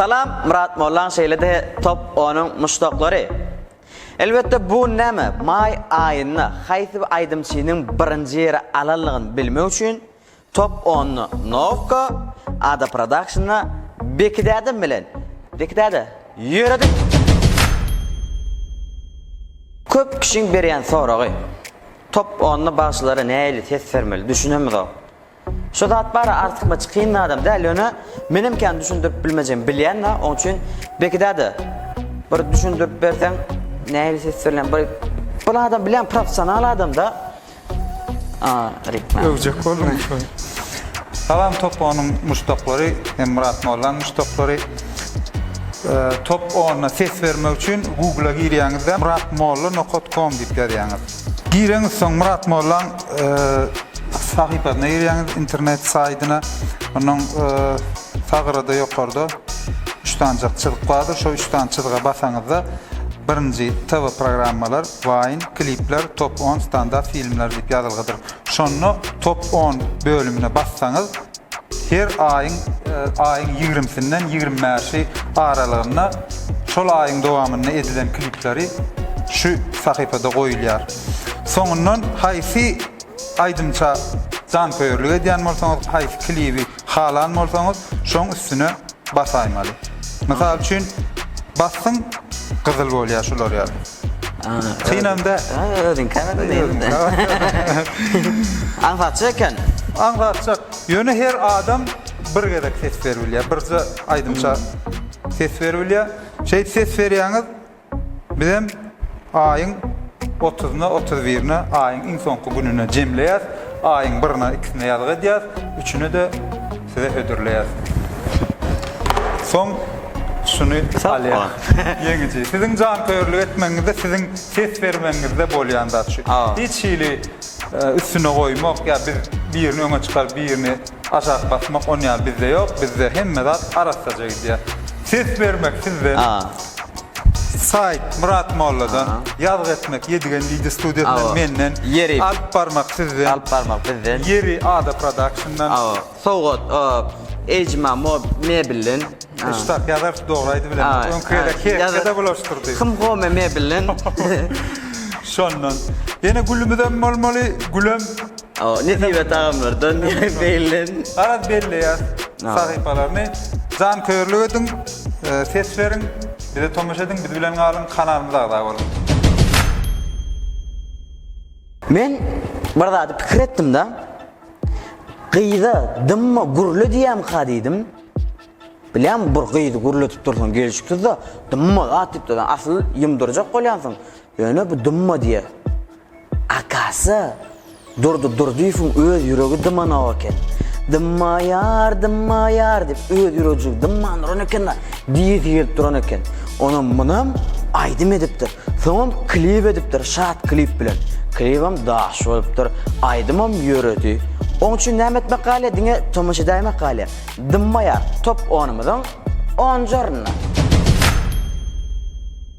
Salam Murat Mollan şeýle de top onuň muşdaklary. Elbetde bu näme? Maý aýynda haýsy bir aýdymçynyň birinji ýeri alanlygyny bilmek üçin Top ony Nowka ada prodakşnda Beki dädem bilen Beki däde ýöredik. Köp kişiň berýän soragy Top ony bagşylara näili ses bermeli düşünemizok. Şu zat bara artykmaç kyn zadam däl ýöne menem kän düşündirip bilmejem bilýän da oň üçin Beki däde bir düşündirip berseň näili ses berlen bir bir adam bilýän professional adam da Öwjek bolduň şuny. Salam top onuň muşdaklary hem Myrat Mollaň muşdaklary. Top ona ses bermek üçin Google-a girýäňizde muratmolla nokat kom diýip ýazýaňyz. Gireňiz soň Myrat Mollaň sahypasyna girýäňiz internet saýdyna. Onuň Sag gyrada ýokarda üç sanjak çyzyk bardyr. Şo üç sany çyzyga basaňyzda birinji TV programmalar, Wine, klipler, top on standart filmler diýip ýazylgydyr. Şonda top on bölümine bassaňyz her aýyň aýyň ýigrimisinden ýigrimi bäşi aralygynda şol aýyň dowamynda edilen klipleri şu sahypada goýulýar. Soňundan haýsy aýdymça janköýerlik edýän bolsaňyz, haýsy klibi Halan bolsaňyz şoň üstüne basaýmaly. Mysal üçin basdyň gyzyl bolýar şular ýaly. Synam däl. Özüň käbir özüň. Aňsatjak eken. Aňsatjak. Ýöne her adam bir gezek ses berip bilýär. Birje aýdymça ses berip bilýär. Şeýdip ses berýäňiz. Bizem aýyň otuzyna, otuz birine, aýyň iň soňky gününe jemleýäs. Aýyň birine, ikisine ýazgy edýäs, üçüne-de size hödürleýäs. Soň şuny alýas. Ýeňiji. Siziň janköýerlik etmegiňizde, siziň ses bermegiňizde bolýan zat şu. Hiç hili üstüne goýmak ýa biz birini öňe çykaryp, birini Aşak basmak on ýaly bizde ýok bizde hemme zat arassaja gidýä. Ses bermek sizden. Saýt Myrat molladan. Ýazgy etmek Ýedigen wideo studiýasyndan menden. Alyp barmak sizden. Alyp barmak bizden. Ýeri Ada Productiondan. Sowgat Ejma Mebelden. Şu tak ýazarys dogry aýdy bilenok. Öňki gezek Herkede bulaşdyrdy. Hym Home Mebelden. Şondan. Ýene gülümizem bolmaly gülem. Nesibe tagamlardan beýlen. Garaz belleýär sahypalaryny. Janköýerlik ediň, ses beriň, bize tomaşa ediň, biz bilen galyň, kanalymyza agza boluň. Men bir zady pikir etdimda, gyza dymma gürle diýemka diýdim. Bilýäňmi, bir gyzy gürledip dursaň gelşiksizde, dymma zat diýip dursaň, asyl ýumdurjak bolýansyň, ýöne bu dymma diýýär. Akasy, Durdy Durdyýewiň öz ýüregi dymanok eken. Dymmaýar, dymmaýar diýip, öz ýüregjigi dymman duran eken-de, diýesi gelip duran eken. Onam munam aýdym edipdir. Soňam klip edipdir, şat klip bilen. Klibem daş bolupdyr, aýdymam ýöredi. Oň üçin näme etmek galýar, diňe tomaşa edäýmek galýar. Dymmaýar, top onumyzyň onjarynda.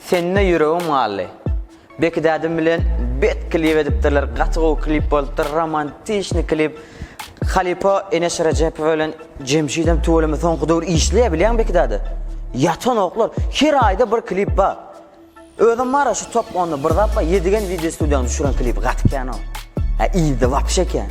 Sende ýüregim galdy. Bekidädim bilen bet klip edipdirler gaty gowy klip bolupdyr romantiçny klip halypa Eneş Rejepowa bilen Jemşidem tüweleme soňky döwür işleýär bilýäňmi Bekidäde ýatanoklar her aýda bir klip bar özem bara şu top onda bir zat bar ýedigen wideo studiýanyň düşüren klibi gaty kän ol hä yzda wapşe kän.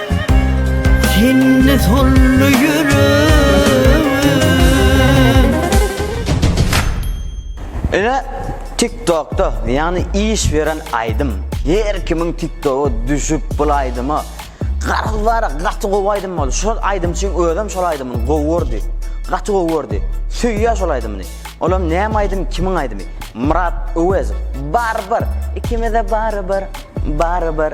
Sende solly ýüregim. Ine tiktokda ýagny iş beren aýdym. Her kimiň tiktoga düşüp bul aýdyma garaz bar gaty gowy aýdym boldy şol aýdymçyň özem şol aýdymyny gowy gördi gaty gowy gördi söýýä şol aýdymyny olam näme aýdym kimiň aýdymy Myrat Öwezow barybir ikimize barybir barybir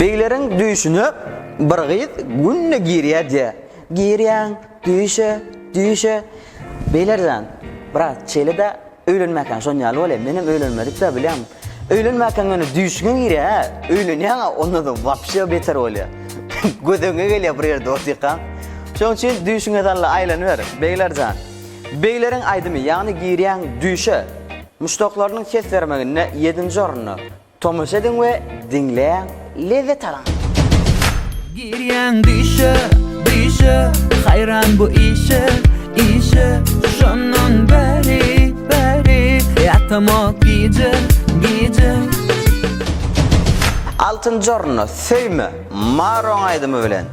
Begleriň düýşüne bir gyz günde girýär-diýýär. Girýäň düýşe, düýşe. Beýler jan, biraz çeli-de, öýlenmäkäň şon ýaly bol-e. Menem öýlenmedik-dä, bilýäňmi. Öýlenmäkäň ýöne düýşüňe girýär-ä. Öýlenýäň-ä, ondan soň wapşe beter bolýar. Gödeňe gelýär bir ýerde otykaň. Şonuň üçin düýşüňe salla aýlanyber, Begler jan. Begleriň aýdymy, ýagny Girýäň düýşe. Muşdaklarynyň ses bermeginde ýedinji orunda. Tomaşa ediň we diňläň, lezzet alyň! Girýäň düýşe, düýşe, haýran bu işe, işe, şondan bäri, bäri, ýatamok gije, gije. Altyn jorna, söýme, Maroň aýdymy bilen.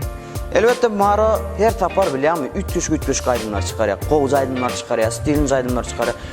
Elbetde Maro her sapar bilýäňmi üýtgeşik-üýtgeşik aýdymlar çykarýar, gowja aýdymlar çykarýar, stilinji aýdymlar çykarýar.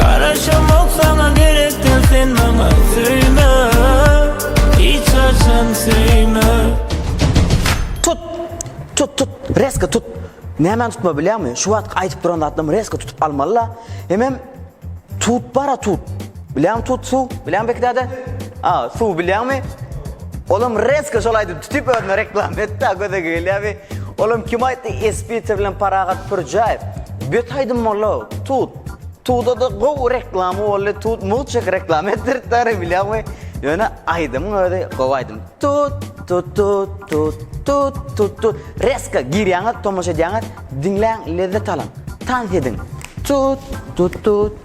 Garaşamok saňa gerek däl sen maňa söýme hiç haçan söýme. Tut! Tut tut! Resko tut! Nämäni tutma bilýäňmi? Şu wagtky aýdyp duran zatlarymy resko tutup almaly-la. Hemem tut bara tut! Bileňmi tut su bileňmi peki däde? A su bileňmi? Olam resko şol aýdyp tutip özüne reklama etdi a göze gelýä bi. Olam kim aýtdy Espiter bilen Parahat Pürjaýew. Bet aýdym boldy o. Tut. Tuda-da gowy reklama boldy. Tut mugt reklama etdiripdi ara bileňmi? Ýöne aýdymyň özi gowy aýdym. Tut tut tut tut tut tut tut. Resko girýäňiz tomaşa edýäňiz diňläň lezzet alyň. Tans ediň. Tut tut tut.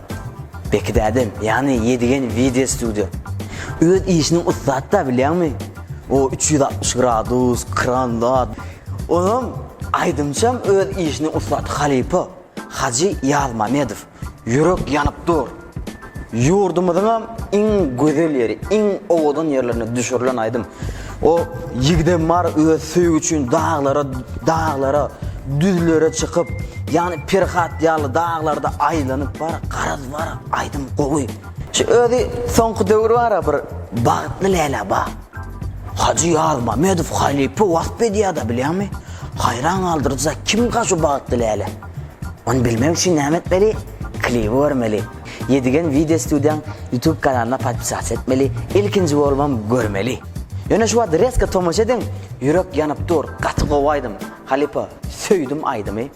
Bekidädem ýany ýedigen wideo studio. Öz işiniň ussatda bilýäňmi? O üç ýüz altmyş gradus, kran zat. Onam aýdymçam öz işiniň ussat halypa Hajy Ýazmamedow. Ýürek ýanyp dur. Ýurdumyzyňam iň gözel ýeri, iň owadan ýerlerine düşürilen aýdym. O ýigidem bar öz söýgi üçin daglara, daglara, düzlere çykyp, ýagny Perhat ýaly daglarda aýlanyp bar, garaz bar, aýdym gowy. Şu özi soňky döwür bar-a bir Bagtly Läle ba. Hajy Ýazmamedow halypa wasp edýär-de bilýäňmi? Haýran galdyryjy zat, kimka şu Bagtly Läle? Ony bilmek üçin näme etmeli? Klibi görmeli. Yedigen video studiýaň YouTube kanalyna podpisatsa etmeli ilkinji bolmam görmeli. Ýöne şu wagt reska tomaşa ediň ýürek ýanyp dur gaty gowy aýdym halypa söýdüm aýdymy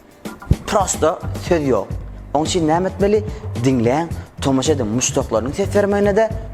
prosta söz ýok oň üçin näme etmeli diňläň tomaşa ediň muşdaklarynyň ses bermegine-de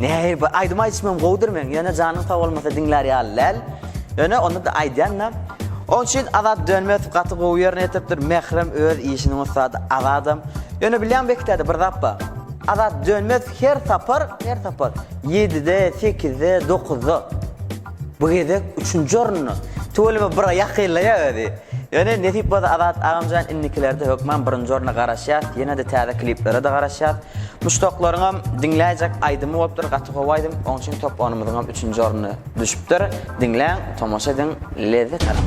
Nähir bu aýdym aýdyşym hem gowudyr meň ýöne janyň sag bolmasa diňlär ýaly däl. Ýöne onda-da aýdýan-da. Onuň üçin Azat Dönmezow gaty gowy ýerine ýetiripdir, Mährem öz işiniň ussady, Azadam. Ýöne bilýäňmi Bekitäde bir zat bar. Azat Dönmezow her sapar, her sapar ýedide, sekizde, dokuzda. Bu gezek üçünji orunda. Tüweleme bir ýakynlaýar özi. Ýöne nesip bolsa Azat agamjan indikilerde hökman birinji orna garaşýas, ýenede täze kliplere-de garaşýas. Muşdaklaryňam diňläýjek aýdymy bolupdyr, gaty gowy aýdym, oň üçin top onumyzyňam üçünji orny düşüpdir. Diňläň, tomaşa ediň, lezzet alyň.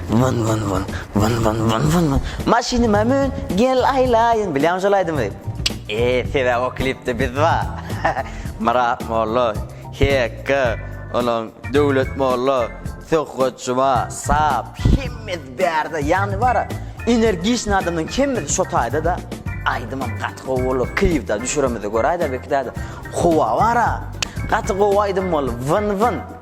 Wyn wyn wyn, wyn wyn wyn wyn wyn, Maşynyma mün, gel aýlaýyn, bilýäňmi şol aýdymy? Eee, sebäbi o klipde biz bar. Myrat molla, HK, onuň Döwlet molla, Söhbet juma, Sap, hemmesi bärde, ýagny bara energiçnyý adamlaryň hemmesi şo taýda-da. Aýdymam gaty gowy boldy, klip-de düşüremizde göräýdä, belki däde. Howa bara, gaty gowy aýdym boldy, wyn wyn.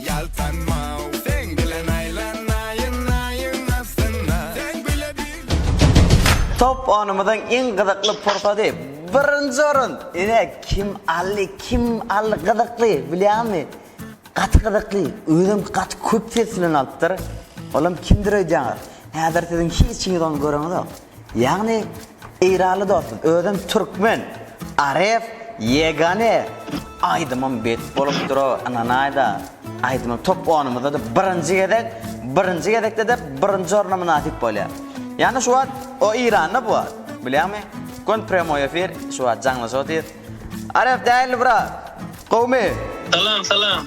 Ýaltanmaw seň bilen aýlanaýyn aýyň astynda Seň bile bir Top onymyzyň iň gyzykly pursady. Birinji orun! Ine kim aldy kim aldy gyzykly bilýäňmi? Gaty gyzykly özem gaty köp ses bilen alypdyr. Olam kimdir öýdýäňiz. Häzir siziň hiç kimiňiz ony göreňizok. Ýagny Eýranly dostum özem türkmen. Aref ýegane aýdymym bet bolupdyro ynanaýda aýdymym top onumyzdada birinji gezek birinji gezekdede birinji orna mynasyp bolýa ýagny şu wagt o Eýranda bu wagt bilýäňmi göni prýamoý efir şu wagt jaňlaşyp otyr Aref däli brat gowmy. Salam salam.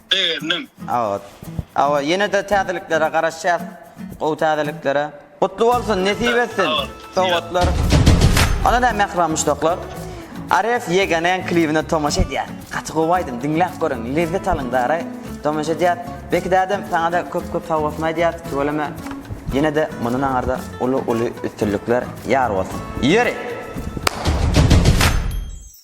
Begendim. Awa. Awa ýene-de täzeliklere garaşýas. Gowy täzeliklere. Gutly bolsun, nesip etsin. Sowgatlar. Onda näme mähriban muşdaklar. Aref ýegenäň klibine tomaşa edýär. Gaty gowy aýdym, diňläp görüň, lezzet alyň dara. Tomaşa edýär. Beki dädem saňa-da köp-köp sowgatmy aýdýas. Tüweleme. Ýene-de mundan aňarda uly-uly üstünlikler ýar bolsun. Ýeri!